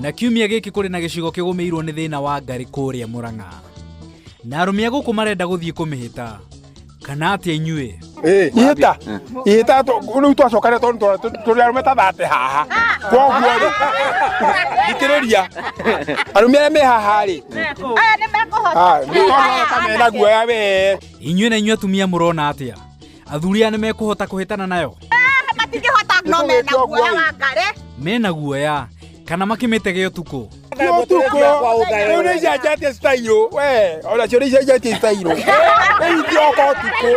Na kiumia gĩkĩ kũrĩ na gĩcigo kĩgũmĩirwo nĩ thĩna wa ngari kũrĩa Mũrang'a. Na arũme a gũkũ marenda gũthiĩ kũmĩhĩta. Kana atĩa inyuĩ? Eh, ihĩta ihĩta rĩu twacoka rĩ tondũ tũrĩ arũme ta thate haha koguo rĩ thikĩrĩria arũme arĩa me haha rĩ aya nĩ mekũhota mena guoya wee inyuĩ na inyuĩ atumia mũrona atĩa Athuri aya nĩ mekũhota kũhĩtana nayo? Matingĩhota no mena guoya wa ngare. Mena guoya kana makĩmĩtege ũtukũ? Ũtukũ, rĩu nĩ icenjetie citairũ, we, ona cio nĩ icenjetie citairũ. Rĩu itioka ũtukũ.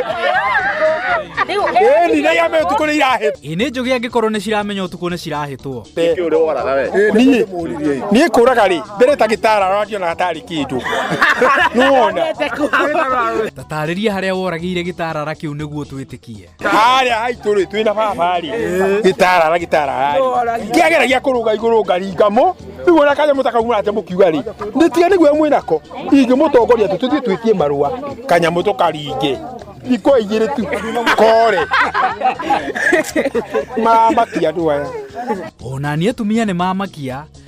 Ĩni, nĩ iame ũtukũ nĩ irahĩtwo. Ĩ nĩ njũgĩ angĩkorwo nĩ ciramenya ũtukũ nĩ cirahĩtwo. Niĩ, niĩ kũraga rĩ, mbere ta gĩtara ũrangĩona hatarĩ kĩndũ. Nĩwona? Taarĩria harĩa woragĩire gĩtarara kĩu nĩguo twĩtĩkie. Harĩa haitũ rĩ twĩna baba rĩ gĩtarara gĩtarara rĩ kĩagera gĩa kũrũga igũrũ ngaringa mo rĩu ona kanyamũ ta kau mũrate mũkiuga rĩ nĩtiga nĩguo mwĩnako ingĩmũtongoria tũ tũthiĩ twĩtie marũa kanyamũ tũkaringe ikwa igĩrĩ tu kore mamakia andũ aya Ona niĩ atumia nĩ mamakia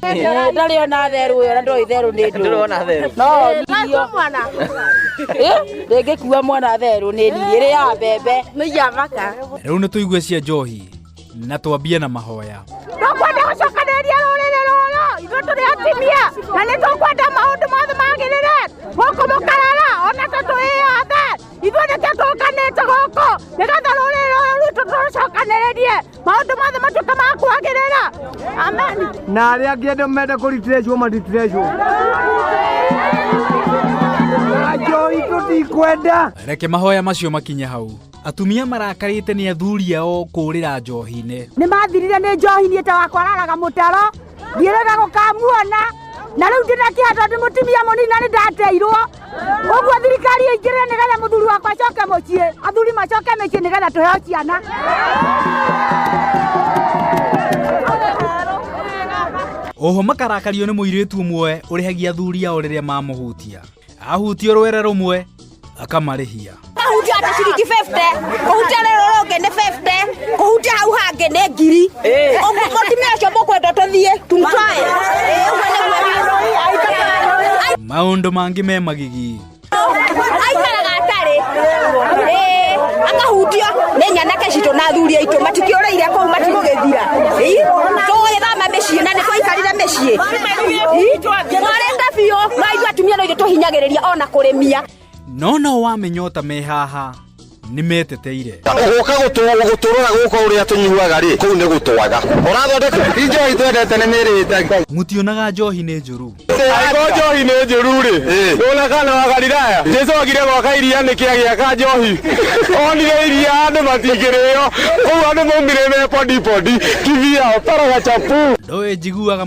ndarä ona therå ä yo na ndoä therå nä ndårona therå no ndio mwana rä ngä kua mwana therå nä ndirä rä ya mbembe nä iya maka rä u nä tå igue cia njohi na twambie na mahoya tũkwenda gũcokanĩrĩria rũrĩrĩ rũrũ ithuĩ tũrĩ atumia na nĩ tũkwenda maũndũ mothe magĩrĩre gũkũ mũkarara ona tũtũĩyothe ithuĩ nĩkĩo tũũkanĩte gũkũ nĩgetha rũrĩrĩ rũrũ rwitũ tũrũcokanĩrĩrie maũndũ mothe matuĩke ma kwagĩrĩra amen na arĩa angĩ andũ menda kũritirĩcwo maritirĩcwo njoi tũtikwenda reke mahoya macio makinye hau atumia marakarĩte nĩ athuri ao kũũrĩra njohi-inĩ nĩ mathirire nĩ njohi niĩ ta wakwararaga mũtaro ndirega gukamuona na riu ndina kiha tondu mutimia munini na ni ndateirwo uguo thirikari ingire nigetha muthuri wakwa acoke mucii athuri macoke micii nigetha tuheo ciana oho makarakario nĩ mũirĩtu ũmwe ũrĩhagia athuri ao rĩrĩa mamũhutia ahutio rwere rumwe akamarĩhia Kuhutia hata shilingi 50. Kuhutia lero roge ni 50. Kuhutia hau hange ni ngiri. Ogu kotimia cio mukwenda tuthie. Tumtwae. maũndũ mangĩ me magigi Aikaraga atarĩ. Eh, akahutio nĩ nyanake citũ na athuri aitũ matikĩũrĩire kũu matigũgĩthira. Ii, tũgũgĩthama mĩciĩ na nĩtwaikarire mĩciĩ. mwarenda biũ maithu atumia no igĩtũhinyagĩrĩria ona kũrĩmia no no wamenyota me haha nĩ meteteire gũka gũtũrora gũka ũrĩa tũnyuaga rĩ kũu nĩ gũtwaga ũrathondeka injohi twendete nĩ mĩrĩte mutionaga njohi nĩ njũru ago njohi nĩ njũru rĩ ndũna kana wa galilaya jesu agire gwaka iria nĩkĩ agĩaka njohi onire iria andũ matingĩrĩo kũu andũ maumire me podipondi kivi yao paraga chapu ndoĩ njiguaga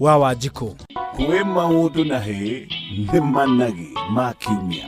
wa wanjikũ kwĩ maũndũ na hĩ nĩ managi ma kiumia